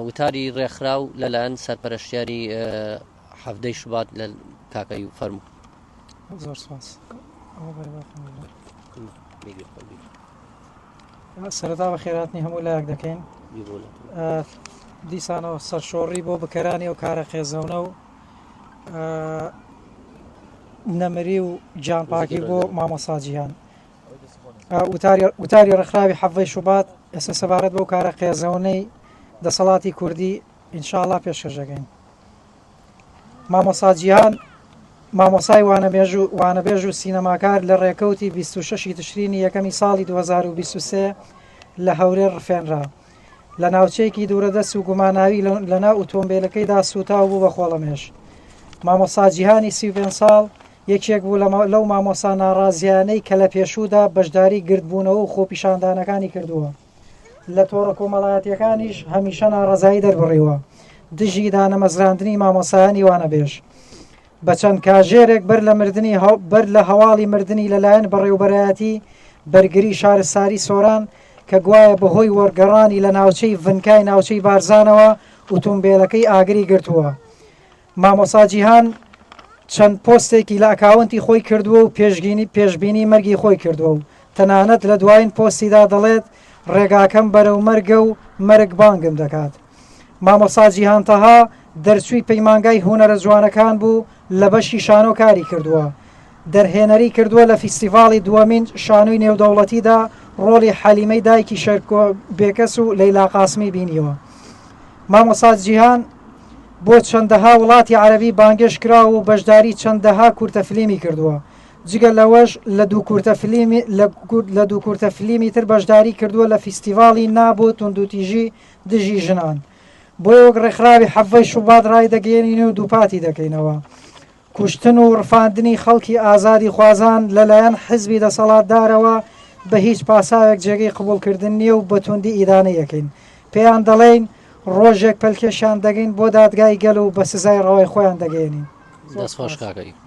وتاری ڕێکخراو لەلایەن سەرپەرشتیاری حەفتەی شوبات لە کاکەی فەرمو زۆر سپاس سەردا بە خێراتنی هەموو لایەک دەکەین دیسانەوە سەرشۆڕی بۆ بکەرانی و کارە خێزەونە و نەمری و جانپاکی بۆ مامۆساجییان وتاری ڕێکخراوی حەڤدەی شوبات ئێستا سەبارەت بەو کارە قێزەونەی دەسەڵاتی کوردی ان شاء اللە پێشکەش دەکەین. مامۆستا جیهان مامۆسای وانەبێژو وانەبێژ و سینەماکار لە ڕێکەوتی بیست و شەشی تشرینی یەکەمی ساڵی دوو هەزار و بیست و سێ لە هەولێر ڕفێنرا. لە ناوچەیەکی دوورەدەست و گوماناوی لەناو ئوتۆمبێلەکەیدا سووتاو بوو بە خۆڵەمێش. مامۆستا جیهانی سی و پێنج ساڵ یەکێک بوو لەو مامۆستا ناڕازیانەی کە لە پێشوودا بەشداری گردبوونەوە و خۆپیشاندانەکانی کردووە لە تۆڕە کۆمەڵایەتیەکانیش هەمیشە ناڕزایی دەربڕیوە دژی دانەمەزراندنی مامۆسایانی وانەبێژ بە چەند کاژێرێک بەر لە مردنی بەر لە هەواڵی مردنی لەلایەن بەڕێوبەرایەتی بەرگری شارستاری سۆران کە گوایە بەهۆی وەرگەڕانی لە ناوچەی ڤنکای ناوچەی بارزانەوە ئوتومبیلەکەی ئاگری گرتووە. مامۆسا جیهان چەند پۆستێکی لە ئەکاونتی خۆی کردووە و پێشگینی پێشبینی مەرگی خۆی کردووە و تەنانەت لە دوایین پۆستیدا دەڵێت ڕێگاکەم بەرەو مەرگە و مەرگ بانگم دەکات. مامۆستا جیهان تەها دەرچووی پەیمانگای هونەرە جوانەکان بوو لە بەشی شانۆ کاری کردووە. دەرهێنەری کردووە لە فیستیڤاڵی دووەمین شانۆی نێودەوڵەتیدا ڕۆڵی حەلیمەی دایکی شێرکۆ بێکەس و لەیلا قاسمی بینیوە. مامۆستا جیهان بۆ چەندەها وڵاتی عەرەبی بانگێشت کراوە و بەشداری چەندەها کورتە فلیمی کردووە. جگە لەوەش لە دوو کورتە فلیمی لە دوو کورتە فلیمی تر بەشداری کردووە لە فیستیڤاڵی نا بۆ توندوتیژی دژی ژنان. بۆیە وەک ڕێکخراوی حەڤەی شوبات ڕایدەگەیەنین و دووپاتی دەکەینەوە. کوشتن و ڕفاندنی خەڵکی ئازادیخوازان لەلایەن حزبی دەسەڵاتدارەوە بە هیچ پاساوێک جێگەی قبوڵکردن نییە و بە توندی ئیدانەی ئەکەین. پێیان دەڵێین ڕۆژێک پەلکێشیان دەگەین بۆ دادگای گەل و بە سزای ڕەوای خۆیان دەگەیەنین. دەستخۆش کاکە ئیپ.